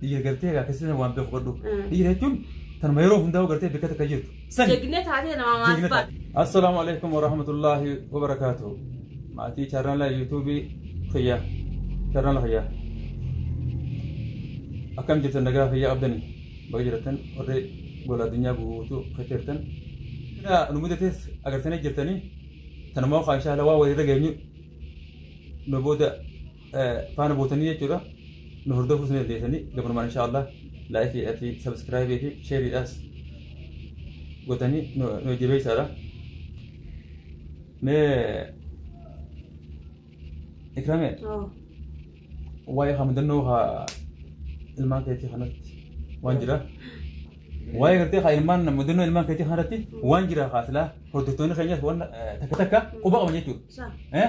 Dhiira gartee egaa keessatti waan beeku godhu. Mm. Dhiira jechuun tanuma yeroo hundaa'u gartee bakka takka jirtu. Sani. Jegnee taatee namaa maal Jeegnata. baate? Assalaamu alaikum warahmatullaahi wabarakaatuhu. Maatii chaarnaala yuutuubii fayyaa. Chaarnaala fayyaa. Akkam jirtan nagaa fayyaa qabdani. Baga jiratan warri gola addunyaa guutuu keessa jirtan. Sila nu mudates agartanii jirtanii. Tanumaa kaa inshaalla waa walirra geenyu. Nu booda faana buutanii jechuudha nu hordofuus ni dandeessanii gabanumaan insha Allah laayikii fi sabiskiraayibii fi sheeriidhaas godhanii nu nu jabeessaadha. Mee ikrame Oo. waa'ee haa mudannoo haa ilmaan keetii kanatti waan jira. Waa'ee gartee haa ilmaan mudannoo ilmaan keetii kanatti waan jira haa silaa hordoftoonni keenyas waan eh, takka takka quba qaban jechuudha. Isaa. Eh?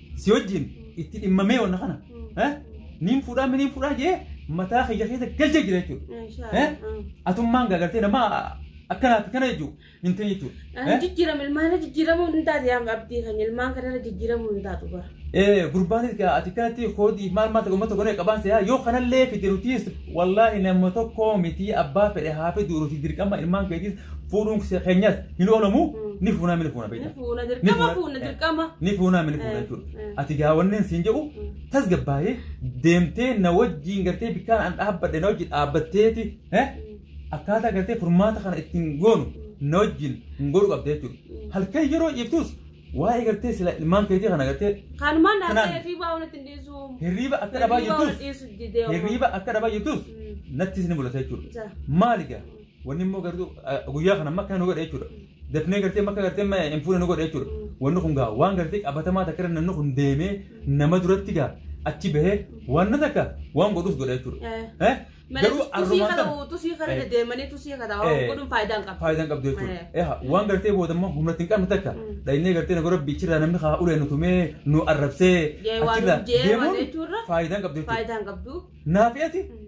si wajjin itti dhimmamee wanna kana eh, niin fuudhaa mi niin fuudhaa jee mataa kiyya keessa galchee jira jechuudha. Eh? Atummaan gaagartee nama akkanaati kana jechuudha hin ta'e jechuudha. Ani jijjiirama ilmaan jijjiiramuu hin taate yaa abdii kan ilmaan kanarra jijjiiramuu hin taatu bara. Eh, gurbaan ati kanatti koodii maal maal ta'e uummata goonee qabaan seeyaa yoo kanallee fide nutis wallaahi nama tokko miti abbaa fedhe haa fidu nuti dirqama ilmaan keetis fuudhuun keenyas hin oolamu ni fuunaa ni fuuna beektaa. Fuuna dirqama fuuna dirqama. Ni fuunaa ni fuuna jechuudha. Ati gaa wanneen siin jedhu tasgabbaa'ee deemtee na wajjiin gartee bikkaan an dhaabbadhe na wajjin dhaabbatteeti akkaataa gartee furmaata kana ittiin goonu na wajjin hin godhu qabda jechuudha. Halkan yeroo ciiftus waa'ee gartee sila ilmaan keetii kana gartee Kanumaan dhaabbatee hirriibaa walitti hin dhiisu. hirriiba akka dhabaa Hirriibaa walitti jirtus dhiisu didee. hirriiba akka dhabaa jirtus nattis ni mul'ata jechuudha. Maali gaa? Wanni immoo gartuu guyyaa kana makka nu godhe jechuudha. Dafnee gartee makka gartee ma hin fuune nu godhe jechuudha. Wanni kun gaa waan gartee qabatamaa takka irra namni kun deemee nama duratti gaa achi bahee waan na takka waan godhus godhe jechuudha. Eh? Garuu arrumaan kana kana tusii kana Eh. deemanii tusii kana Eh. godhuun faayidaa hin qabu. faayidaan qabdu jechuudha. Eh. Eha waan gartee booda immoo humna ittiin qabnu takka Mm. dhaynee gartee na gorabbi achirraa namni haa ulee nu tumee nu arrabsee Jee waan achirraa jee waan deemuun jechuurra faayidaan qabdu jechuudha. faayidaa hin qabdu. Naafiyati Mm.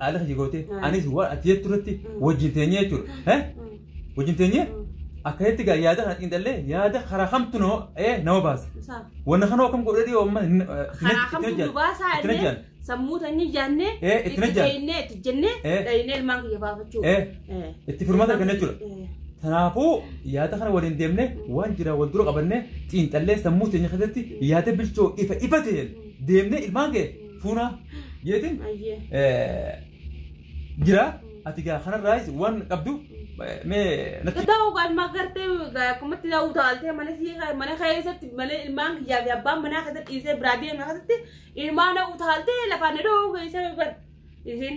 Haadha kee gootee Mm. anis waan ati jettu irratti Mm. wajjin teenyee jechuudha. Eh? Wajjin teenyee akkasitti gaa yaada kana xiinxallee yaada karaa kamtu nama ee nama baasa. Isaa. Wanna kana akkam godhee dhiyoo amma hin- eh, itti Karaa kamtu hojjaan. dubaasaa Itti illee hojjaan. sammuu teenyee jaannee Eh, itti itti hojjaan. deeynee itti jennee Eh. dhaynee ilmaan kiyya baafachuu. Eh, Eh. itti furmaata arganna jechuudha. Eh. Kanaafuu yaada kana waliin deemnee waan jira wal dura qabannee xiinxallee sammuu teenya keessatti yaada bilchoo ifa ifa ta'een deemnee ilmaan kee fuuna jeetiin Ayyee. eh, jira ati gaa kanarraayis waan qabdu eh, mee natti Gadaa ugaan magartee akkumatti na utaaltee mana sii mana keessatti mana ilmaan kiyyaa fi abbaan manaa keessatti dhiisee biraa deemna keessatti ilmaan na utaaltee lafaan na dhoohu keessa bar isin.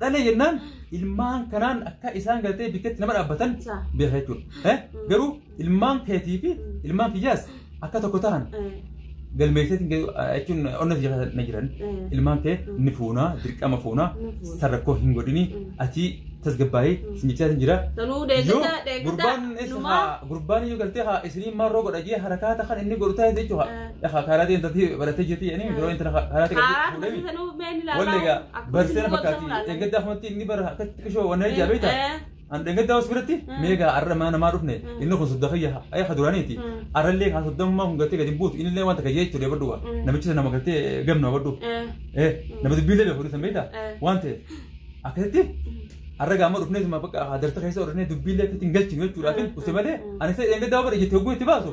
dhalee jennaan ilmaan kanaan akka isaan gartee bikkeetti nama dhaabbatan Sa. beeka jechuudha. Eh? Mm. Garuu ilmaan keetii fi Mm. ilmaan kiyyaas akka tokko ta'an Eh, galmeesseetiin gadi- ah, jechuun onna si jala na jiran eh, ilmaan kee Mm. ni fuunaa dirqama fuunaa ni fuudha. san rakkoo hin godhini Mm. ati tasgabbaa'ee Mm. sin jechaa jira. Sanuu Yoo deeggarta deeggarta gurbaan eessa numaa. haa gurbaan yoo galtee haa isiniin maarroo godha jee harakaata kan inni godhu taa'e jechuudha. Eh. Lafa kaaraatiin tatii baratee jirti jedhanii yeroo inti lafa kaaraatii qabdi Kaaraan fuudhee tatii sanuu mee ni ilaalaa? Wallee egaa Akkuma barsiisee na isin fakkaati. goota muraasa. Eeggaddaa kanatti inni bara akkatti qishoo waan nari jaabeeta. Eh. An eeggaddaa hoos biratti Mm. meegaa arra mana namaa dhufne Mm. inni kun sodda kiyya ayya kaduraaniiti. Mm. Arrallee kaa soddammaa kun gattee gadi hin buutu innillee wanta kayyee jechuudha badhuwa. Mm. Namichi sana nama gattee gamna badhu. Eh. Eh nama dubbiillee beeku dhiisan beektaa? Eh. Waan ta'e akkasitti arra gaama dhufnee suma bakka darsa keessa oolannee dubbiillee akkasitti hin galchinu jechuudhaaf Mm. usi malee Mm. ani isa eeggaddaa bara iyyatti hogguu itti baasu.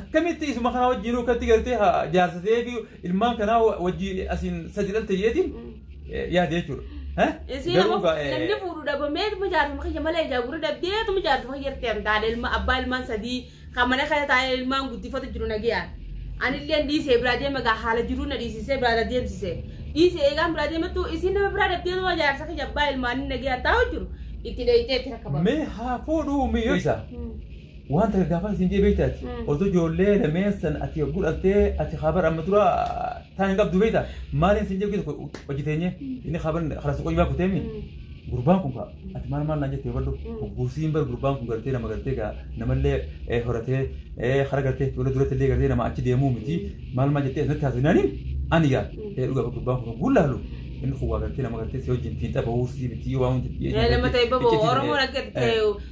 akkamitti isuma kana wajjin akkatti galtee haa jaarsa ta'ee fi ilmaan kanaa wajjin asiin sadi dhalte jeetiin yaade jechuudha. Eh? Isiin Garuu ammoo gaa- eh, namni fuudhu dhabamee dhuma jaartuma kiyya malee ijaa gurra dhabdee dhuma jaartuma kiyya irratti hin taane ilma abbaa ilmaan sadii kan mana kana taa'ee ilmaan guddifatu jiru nagayaan. Anillee dhiisee biraa deema gaa haala jiruu na dhiisisee biraa na deemsisee. Dhiisee eegaan biraa deemattu isiin nama biraa dhabdee dhuma jaarsa kiyya abbaa ilmaanii nagayaan taa'u jiru itti dheeyitee itti rakkabama. Mee haa fuudhuu miyyoo isaa. Waan takka gaafan isin jee beekta ati. Mm. Osoo ijoollee lameen san ati yogguu dhaltee ati kaabar amma dura taan hin qabdu beekta. Maaliin isin jee tokko hojii teenye inni kaabar kalas qoyyuu baa kuteemi. Gurbaan kun kaa ati maal maal naan jettee badhu. Mm. Gursiin bar gurbaan kun gartee nama gartee gaa namallee eh, horatee eh, hara gartee ijoollee duratti illee gartee nama achi deemuu miti. Maal maal jettee asitti haasofne ani ani gaa eh, dhugaa bar gurbaan kun guulla halu. Inni kun waa gartee nama gartee si wajjin fiixa bahuu si miti waan hunda. Nama ta'e baboo Oromoon akka ta'e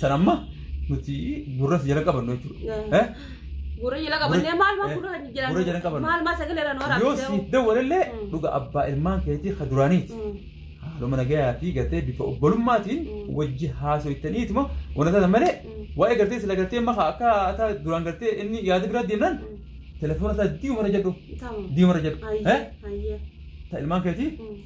San amma nuti gurra si jala qabannu jechuudha. Eh? Gurra jala qabannee maal maal gurra kan jiran Gurra jala qabannu. maal maal sagalee irra nu Yoo waraabsisee. siif dawwalellee Mm. dhuga abbaa ilmaan keetii ka duraaniiti. Mm. Haaluma nagayaa fi gartee bifa obbolummaatiin Mm. wajji haasoftaniituma wanta taatan malee Mm. waa'ee gartee sila gartee maka akka ataa duraan gartee inni yaada biraa deemnaan Mm. telefoona isaa diimarra jedhu Tamam. diimarra jedhu. Eh? Hayyee. Hayyee. Ta ilmaan keetii Mm.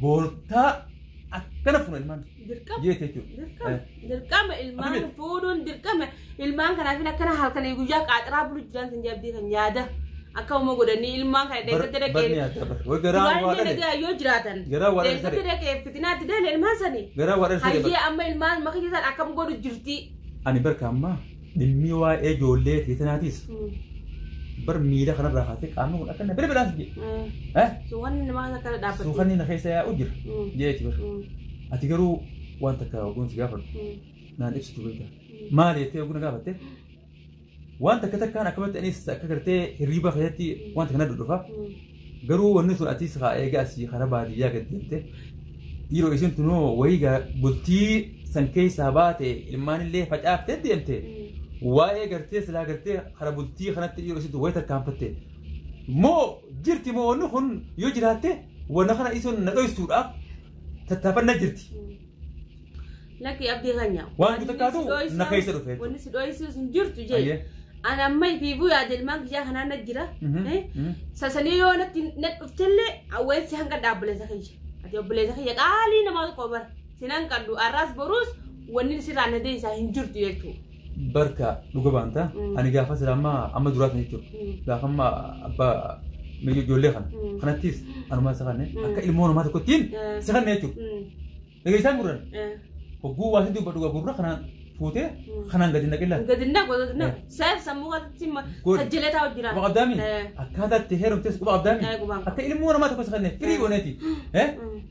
Boortaa akkana fuuna ilmaan Dirqama. jeete jechuudha. Dirqama. Dirqama ilmaan Abdii. fuudhuun dirqama. Ilmaan kanaafin akkana halkanii guyyaa qaaxaraa bulu jiraan sin jabdii kan yaada. Akka uuma godhanii ilmaan kana deeggarta Barni dhaqee. yaadda bar. Way garaa waa Waan dhale. dhaqee yoo jiraatan. Garaa waa dhale Deeggarta sare. dhaqee fitinaatti deele ilmaan sanii. Garaa waa dhale sare. Hayyee amma ilmaan makiyya isaan akkam godhu jirti. Ani barka ammaa Dhimmi waa'ee ijoollee teetanaatis bar miila kanarraa kaatee qaamni kun akkana bira biraas jee. Eh? Suukanni namaa akkana dhaabbate. Suukanni na keessa yaa'u jira. Jeeti bar. Ati garuu waan takka oguun si gaafadhu. Naan ibsitu beekta. Maali jettee oguu na gaafatte? Waan takka takkaan akkamatti anis akka gartee hirriibaa keessatti waan takka na dhudhufa. Garuu wanni sun atis haa eega asii kara baadiyyaa gad deemte dhiiroo isin tunoo wayii gaa bultii san keessaa baate ilmaan illee facaaftee deemte waa'ee gartee silaa gartee kara bultii kanatti dhiiroo isin wayii tarkaanfatte moo jirti moo wanni kun yoo jiraatte wanna kana isin na dhoysuudhaaf tattaafanna jirti. Lakki abdii kanya. Waan guutuu taatu na keessa dhufe. Wanni si dhooyisiis hin jirtu jee. Ayyee. Ani amma ifiifuu yaada ilmaan kiyyaa kanaa na jira. Mhm, Eh? mhm. Sasanii yoo natti na dhuftellee awweessi hanga dhaabbileessa kiyya. Ati obboleessa kiyya qaalii namaa tokko bara. Sinan qaddu arraas boruus wanni sirraa na deebisaa hin jirtu jechuudha. barka dhuga baanta Mm. ani gaafa sila amma amma duraa kana jechuudha Mm. gaafa amma abbaa mirga ijoollee kana Mm. kanattis anumaa isa kanne Mm. akka ilmoo namaa tokkottiin Eh. isa kanne jechuudha Mm. dhageessaan gurran Eh. hogguu waa hedduu dhuga gurra kanaan fuutee Mm. kanaan gadi naqillaan Gadinna godina. Saayif sammuu galatti ma- Godhi. sajjilee taa'u jira. quba qabdaami Eh. akkaataa itti heerumtes quba qabdaami Eh, quba qabda. akka ilmoo namaa tokko isa kanne firii gooneeti eh Mm.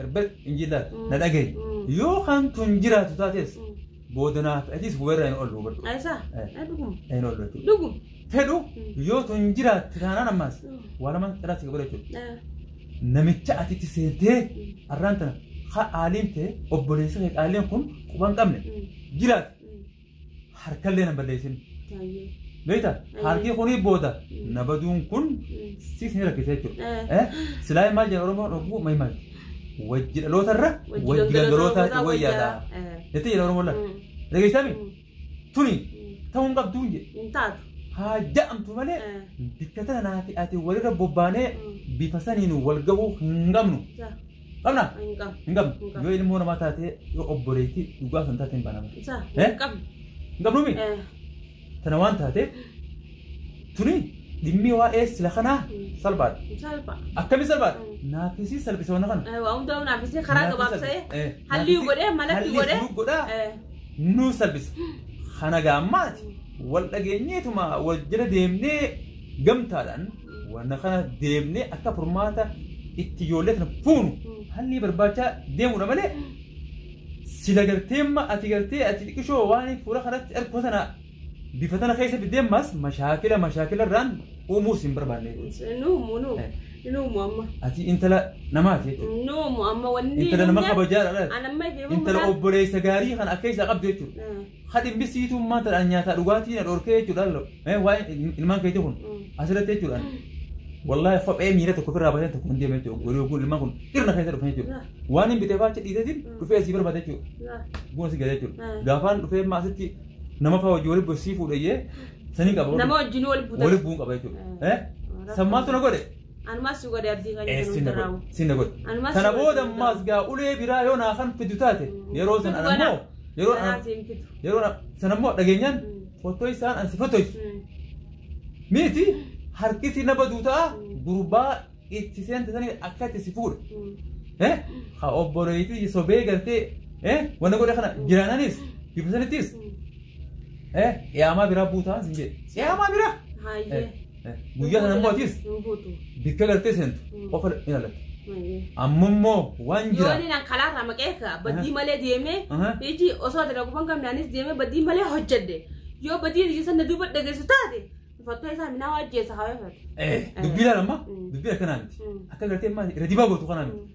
Erbel injiilaal na dhagahi yoo kan tun jiraatu taates boodanaaf atis hubarra hin oolu hubadhu Aisa, Eh. eh dugum. hin oolu jechuudha Dugum. fedhu yoo tun jiraatte taanaan ammaas waa lamaan irratti qabadha jechuudha Eh. namicha ati itti seentee arraan tana ha aaliin ta'e obboleessa kee qaalleen kun quban qabne jiraate harkallee nan balleessin. Taayyee. Beekta Ayyee. harkii kunii booda Mm. na baduun kun Mm. siis ni rakkisa jechuudha. Eh. Eh, Silaa maal jedha Oromoon oguu maal maal wajji dhaloota irra Wajji wajji gangalootaa gangalootaa irraa wayyaadha. wayyaa. Eh. Jettee jedha Oromoon laata. Mm. Dhageessami Mm. tuni Mm. ta'uu hin qabdu hin jedhe. Hin taatu. Haa ja'amtu malee Eh. bikka tana naati ati walirra bobbaanee Mm. bifa saniin wal gahuu hin qabnu. Jaa. Qabna? Hin qabu. Hin qabnu. Hin qabnu. Yoo ilmoo namaa taatee yoo obboleettii dhugaa kan taate hin banama. Isaa Eh? hin qabu. Hin qabnuumi? Eh, Tana waan taateef tuni dhimmi waa'ee sila kanaa salphaadha. hin salpha. Akkami salphaadha? Mm. Naafisii salphisa wanna kana. Eh, waa hundaa naafisee karaa gabaabsee Eh, hallii naafisii- godhee malatti hallii godhee. nu godhaa. Eh, nu salphisa. Kana gaammaati wal dhageenyeetuma wal jala deemnee gamtaadhaan Wanna kana deemnee akka furmaata itti ijoollee kana fuunu haalli barbaachaa deemuudha malee sila gartee amma ati gartee ati xiqqishoo waan fuula kanatti ergu sana bifa tana keessa fideemmas mashaakila mashaakila irraan uumuus hin barbaanne. Nuumu nuumu Eh. nuumu amma. Ati intala namaati jechuudha. Nuumu amma wanni. Intala nama nuumu- kabajaadha. Ana amma ife Intala obboleessa gaarii kana akka isaa qabdu jechuudha. Eh. Ha dhimmi siituu maal ta'an nyaataa dhugaatii na dhorkee jechuudha lalo. Mee waa'ee ilmaan keetii kun asirratti jechuudha. Wallaahi kophee miila tokko ofirraa baasee tokko hin deemne jechuudha. Gorii kun ilmaan kun dhirna keessa dhufan jechuudha. Waan hin bitee faacha dhiiseetiin dhufee asii barbaada jechuudha. Buna si gala jechuudha. Gaafaan dhufee immoo asitti nama fa'aa hojii waliin bossii fuudhayyee sanii qaba. Nama wajjin wal buutan. Waliin bu'uun qaba jechuudha. Sammaatu na godhe. Anumaas si godhe abdii kan jedhu Sinna godhe. hundarraa. Sinna godhe. Anumaas Kana si godhe, booda sinna ammaas godhe. gaa ulee biraa yoo naa kan fidu taate yeroo san Fidu anammoo kana. yeroo Kanaa an- siin fidu. yeroo na- sanammoo dhageenyaan Mm. fotoisaan ansi fotoisu. Mm. Miti harkisi na baduu ta'a gurbaa itti seente sanii akka itti si fuudha. Mm. Eh? Ha obboleetii sobee galtee eh? wanna godhe kana jiraananis bifa sanittis Mm. eh? qiyaamaa biraa buutaan sin jedhe. Qiyaamaa biraa! Hayyee. Guyyaa sana immoo atis Hin guutu. bikka galtee seentu Mm. qofa ilaalatte. Maayee. Amma immoo waan Yoo jira. inni nan kalaa irraa maqee ka badii malee deemee Aha. iji osoo ati dhaquu hin qabne anis deemee badii malee hojjedhe. Yoo badii iji sana duuba dhageessu taate fattoo isaa minaa waajjeessa haa waafatu. Eh, dubbii ilaala amma Mm. dubbii akkanaa miti. Mm. Akka galtee maali irra dibaa gootu kanaa miti.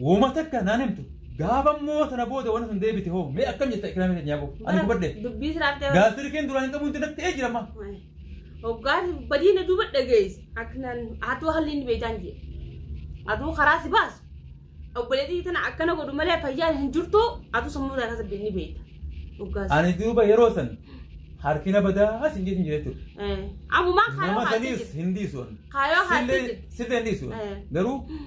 Wooma takka naan himtu. Gaafa immoo sana booda waan sun deebite hoo mee akkam jetta ikraamii keenya yaaboo. Ani gubadhe. Dubbii siraatti hafee. Gaasirikeen duraan hin qabuun dinatti ee jirama. Hoggaan badii na duuba dhageessi. Akkanaan hatuu haalli inni beekaan jee. Hatuu karaa si baasu. Obboleettii tana akkana godhu malee fayyaan hin jirtu hatuu sammuu isaa keessa beekni beekta. Hoggaas. Ani duuba yeroo san harkina badaa as hin jeetin jira jechuudha. Ammumaa kaayoo Nama haati saniis jirti. hin dhiisu. Kaayoo haati Sillee jirti. sillee hin dhiisu. Eh. Garuu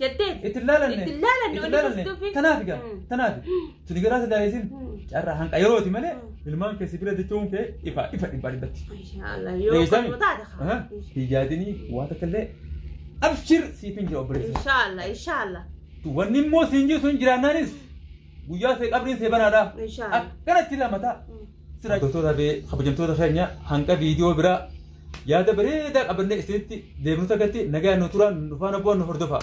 Jettee. Itti hin laalanne. Itti hin laalanne, Itti hin wanni laalanne. tuftufi. Tanaaf egaa. Mm. Tanaaf. Suni garaa si daayisiin. Mm. Carraa hanqa yerooti malee Mm. ilmaan keessi bira jechuun kee ifa ifa dhibbaa dhibbatti. Inshallah yoo Deebisami. qotu taata Aha. kaa. Hijaadini waan takka illee abshir siif hin jira obboleessa. Inshallah inshallah. Wanni immoo siin jiru sun jiraannaanis guyyaa ta'e qabriin see banaadha. Inshallah. Akkanatti lamata. Sira hojjettoota fi kabajamtoota keenya hanga viidiyoo biraa yaada bareedaa qabannee isinitti deebinuutti nagaan nu turaa nu faana bu'aa nu hordofaa.